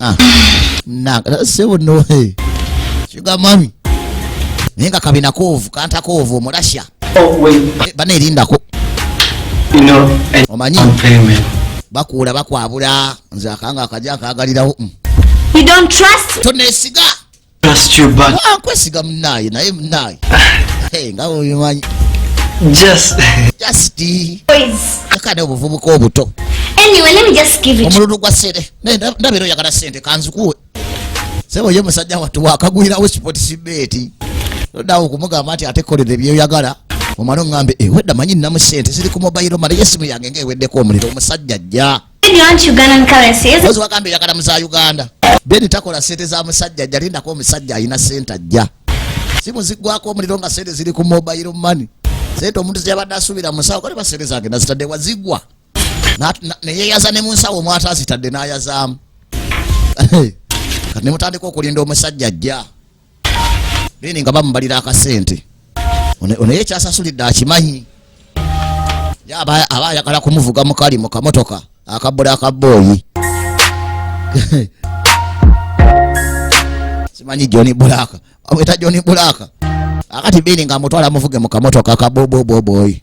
Ah. Na, sebo no. Hey. Sugar mommy. Nenga kabina kovu, kanta kovu, murasha. Oh, wait. Eh, bana irinda ko. You know, I Omanyi. I'm payment. Bakula, bakwabula. Nzakanga, kajaka, agalira. Mm. You don't trust? Tone siga. nkwesiga munaye naye munaye ah. nga obimanyi kakana obuvubuka obuto omululu gwa sente ndabera oyagala sente kanzikuwe sebo ye musajja watu wakagwirawo sports beti odawo okumugamba nti ate kolera ebyoyagala omwana oŋambe ewedda eh, manyi nnamu sente ziri ku mobayiro male yesimu yange nga eweddeko omuliro omusajja ajja Ozi wagambe yakala muza Uganda. Beni takola sente za musajja jalinda kwa musajja ina senta ja. Simu zigwa kwa mlilonga sente zili ku mobile money. Sente omuntu ziyabada asubira musawo kwa liba sente zake na sitade wa zigwa. Na, na, na ye yaza ne musawo umwata sitade na yaza. Kati ne mutandiko kulindo musajja ja. bene nga bamubalira akasente onaye ekyasasulidde akimanyi aba ayagala kumuvuga mukali mu kamotoka akabbula akabbooyi simanyi joni bulaaka amwita joni bulaaka akati bini nga amutwala amuvuge mu kamotoka akaboboboboyi